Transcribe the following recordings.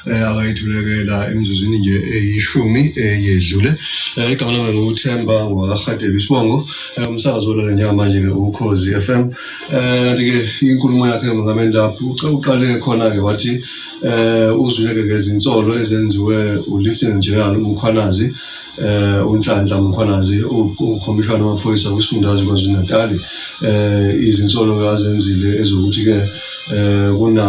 eh, akayithulekela emzuzwini nje eyishumi eyedlule eh, igama lami nguthemba ngwakahadebe isibongo eh, umsakazi wolona njengamanje-ke ukhozi f m kanti-ke inkulumo yakhe emongameni lapho uqale khona-ke wathi um uzwileke ngezinsolo ezenziwe ulieutenant general umkhwanazi eh unhlanhla mkhwanazi ukhomishana wamaphoyisa kwisifundazwe KwaZulu-Natal eh izinsolo kazenzile ezokuthi ke eh kuna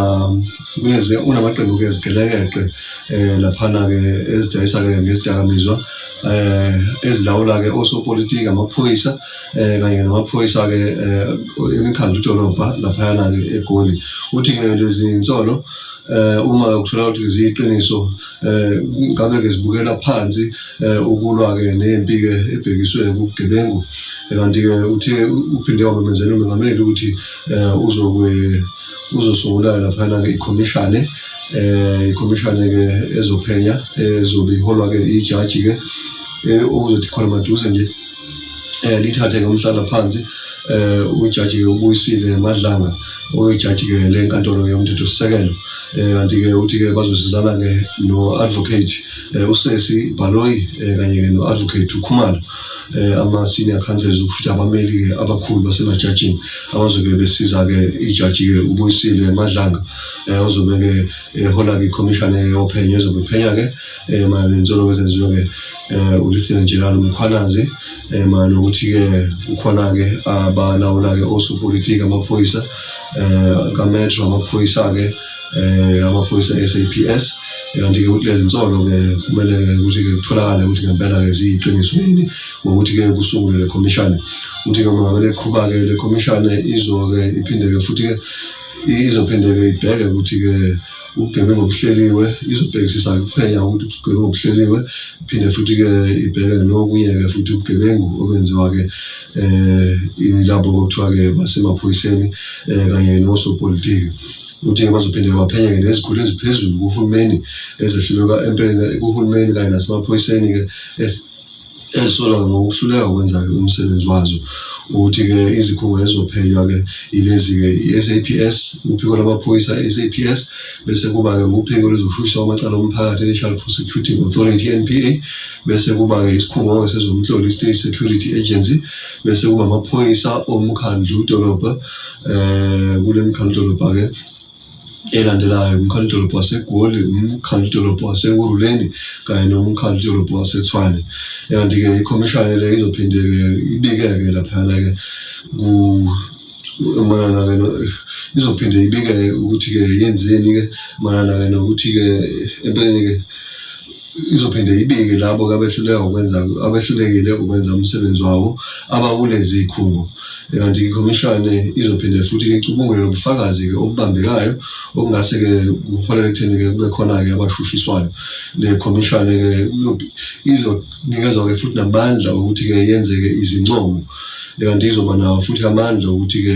ngezwe unamaqembu ke ezigelekeqe eh laphana ke ezidayisa ke ngezidakamizwa eh ezilawula ke osopolitiki amaphoyisa eh kanye namaphoyisa ke eh, emikhandlu dolobha laphana ke egoli uthi ke lezi insolo eh uma ukuthola ukuthi ziyiqiniso eh ngabe ke zibukela phansi eh, ukulwa ke nempi ke ebhekiswe kugebengu eh, kanti ke uthi uphinde wamemezela umengameli ukuthi eh, uzokwe kuzosungula-ke laphana-ke ikhomishane um ikhomishane-ke ezophenya ezobe iholwa-ke ijaji-ke okuzothi khona maduze nje um lithathe ngomhlala phansi um ujaji-ke ubuyisile madlanga oyijaji-ke le nkantolo-ke yomthethosisekelo um kanti-ke uthi-ke bazosizana-ke no-advocate um usesi bhaloyi um kanye-ke no-advocate ukhumalo eh, ama-senior councils ukuthi abameli-ke abakhulu basemajajini abazobe besiza-ke ijaji-ke ubuyisile madlanga um eh, ozobe-ke ehola-ke ikhomishana yophenyo ezobe iphenya-ke um mayelana nensolo-ke ezenziwe-ke um ulieutenant general umkhwanazi um mayelana nokuthi-ke kukhona-ke abalawula-ke osopolitiki amaphoyisa um kametro amaphoyisa-ke eh amaphoyisa SAPS kanti ke ukuthi lezi nsolo ke kumele ke ukuthi ke kutholakale ukuthi ngempela ke ziyiqiniso yini ngokuthi ke kusungule le commission ukuthi ke uma ngabe iqhubha ke le commission izo ke iphinde ke futhi ke izophinde ke ibheke ukuthi ke ubugebengu obuhleliwe izobhekisisa kuphenya ukuthi ubugebengu obuhleliwe phinde futhi-ke ibheke nokunye-ke futhi ubugebengu obenziwa-ke um eh, ilabo okuthiwa-ke basemaphoyiseni um kanye nosopolitiki Uthe bazophinde baphenya ngezikhulu eziphezulu kuhulumeni ezehluleka empeleni kuhulumeni kanye nasemaphoyiseni-ke ezisolwa ngokuhluleka ukwenza-ke umsebenzi wazo ukuthi-ke izikhungo ezizophenywa-ke ilezi-ke i-saps uphiko lwamaphoyisa i-saps bese kuba-ke uphiko lwezokushushiswa kwamacala omphakathi i-national prosecuting authority n p a bese kuba-ke isikhungo-ke sezomhloli i-state security agency bese kuba amaphoyisa omkhandlu dolobha eh kule mkhandlu dolobha ke elandelayo umkhandlu dolobha wasegoli umkhandlu dolobha wasekuruleni kanye nomkhandlu dolobha wasethwane kanti-ke ikhomishana le izophinde-ke ibike-ke laphana-ke mayelana-ke izophinde ibike-ke ukuthi-ke yenzeni-ke mayelana-ke nokuthi-ke empeleni-ke izophinde ibike labo abehluleka ukwenza abehlulekile ukwenza umsebenzi wabo abakulezi zikhungo kanti ikhomishane izophinde futhi icubungule lobufakazi-ke obubambekayo okungase-ke kuholele ekutheni-ke kube khona-ke abashushiswayo le khomishane-ke izonikezwa-ke futhi namandla okuthi-ke yenze-ke izincomo kanti izoba nawo futhi amandla okuthi-ke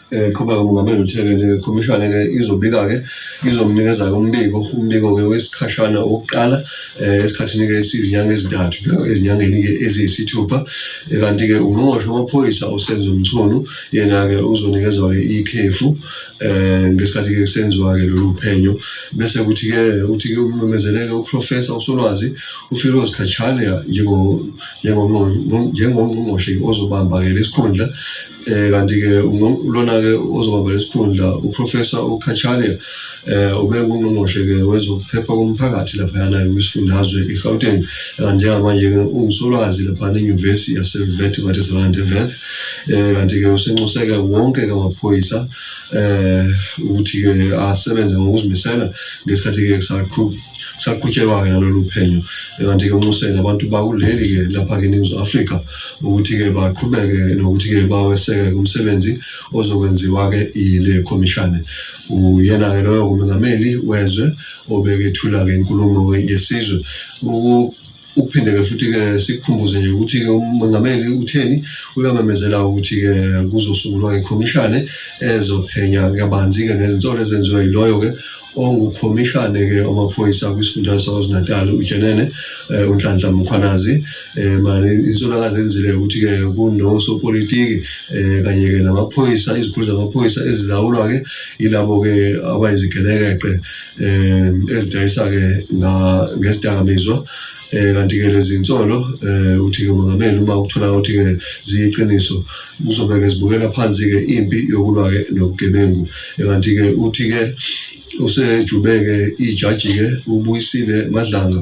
eqhuba eh, umongameli uthe-ke le khomishane-ke izobika-ke izomnikeza-ke umbiko umbiko-ke wesikhashana wokuqala um esikhathini-ke esiyizinyanga ezintathu ezinyangeni-ke eziyisithupha eh, kanti-ke ungqongqoshe wamaphoyisa usenzo mchunu yena-ke uzonikezwa-ke ikhefu um ngesikhathi-ke kusenziwa-ke lolu phenyo bese kuthi-ke uthi-ke umemezeleke uprofesa usolwazi ufiroz kachane njengongqongqoshe ozobamba-ke lesikhundla eh kanti-ke lona-ke ozobamba lesikhundla uprofessor ukhachalia eh ubengungqongqoshe-ke wezokuphepha komphakathi laphayana kwisifundazwe i-gauteng njengamanje-ke ungusolwazi laphana enyuvesi yasevet batesalande vet eh kanti-ke usenxuseke wonke-ke amaphoyisa eh ukuthi-ke asebenze ngokuzimisela ngesikhathi-ke kusaqhuba saqhutyekwa-ke nalolu phenyo kanti-ke unxusele abantu bakuleli-ke lapha-ke eningizimu afrika ukuthi-ke baqhubeke nokuthi-ke baweseke kumsebenzi ozokwenziwa-ke yile khomishane uyena-ke loyo ngumengameli wezwe obekethula-ke inkulumo yesizwe Ukuphinde-ke futhi-ke sikukhumbuze nje ukuthi-ke umengameli utheni uyamemezela ukuthi-ke kuzosungulwa ikhomishane ezophenya kabanzi-ke ngezinsolo ezenziwa yiloyo-ke ongukhomishane-ke wamaphoyisa kwisifundazwe sakwazulu-natal ujenene eh, unhlanhla mkhwanazi eh, mani insolo akazenzile ukuthi-ke kunosopolitiki eh, kanye-ke namaphoyisa izikhulu zamaphoyisa ezilawulwa-ke yilabo-ke abayizigelekeqe eh ezidayisa ke na ngesidakamizwa eh kanti ke lezi insolo eh uthi ke umongameli uma ukuthola ukuthi ke ziyiqiniso kuzobe ke zibukela phansi ke impi yokulwa ke nobugebengu eh, kanti ke uthi ke usejubeke ijaji ke ubuyisile madlanga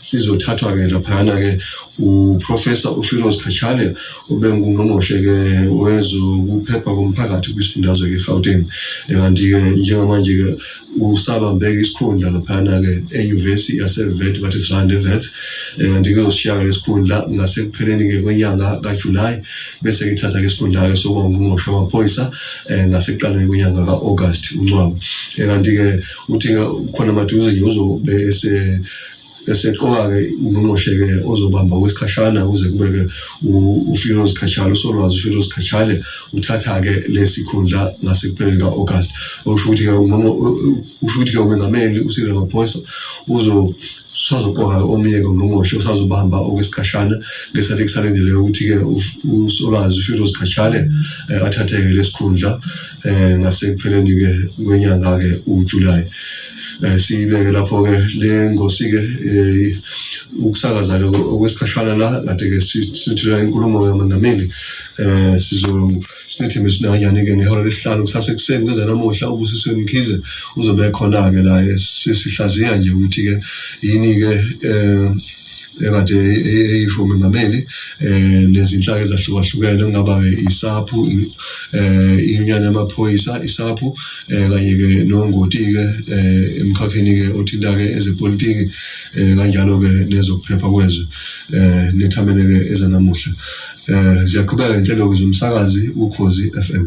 sizothathwa-ke laphayana-ke uprofesa ufiros kachale obengungqongqoshe-ke wezokuphepha komphakathi kwisifundazwe-ke egauteng kanti-ke njengamanje-ke usabambeke isikhundla laphayana-ke enyuvesi yasevet bathi srand evet kanti-ke uzoshiya-ke lesikhundla ngasekupheleni-ke kwenyanga kajulayi bese kithatha-ke isikhundla-ke sokuba ungqongqoshe wamaphoyisa um eh, ngasekuqaleni kwenyanga ka-august uncwaba eh, kanti-ke uthi-ke khona maduze nje uzobe ese eseqoka-ke ungqongqoshe-ke ozobamba okwesikhashana kuze kube-ke ufiloz khatshale usolwazi ufiloz khatshale uthatha-ke lesi khundla ngasekupheleni ka-august okusho ukuthi-ke usho ukuthi-ke umengameli usile maphoyisa uzo sazoqoka omunye ngongqongqoshe usazobamba okwesikhashana ngesikhathi kusalindele ukuthi-ke usolwazi ufiloz khatshale eh, athatheke lesikhundla um ngasekupheleni-ke kwenyanga-ke ujulayi eh, siyibeke lapho ke le ngosi ke eh, ukusakaza ke okwesikhashana la kade ke sithula inkulumo kaMengameli eh sizo sinethemba esinanyane ke ngehora lesihlanu kusase kuseni kuze namuhla ubusiswe Mkhize uzobe khona ke la eh, sesihlaziya nje ukuthi ke yini ke eh ekade eyisho umengameli eh nezinhlaka ezahlukahlukene kungaba ke isaphu eh inyana yamaphoyisa isaphu eh kanye ke nongoti ke eh, emkhakheni ke othinta ke ezepolitiki eh, kanjalo ke nezokuphepha kwezwe eh nethamene ke ezanamuhla eh ziyaqhubeka inhlelo zomsakazi ukhozi FM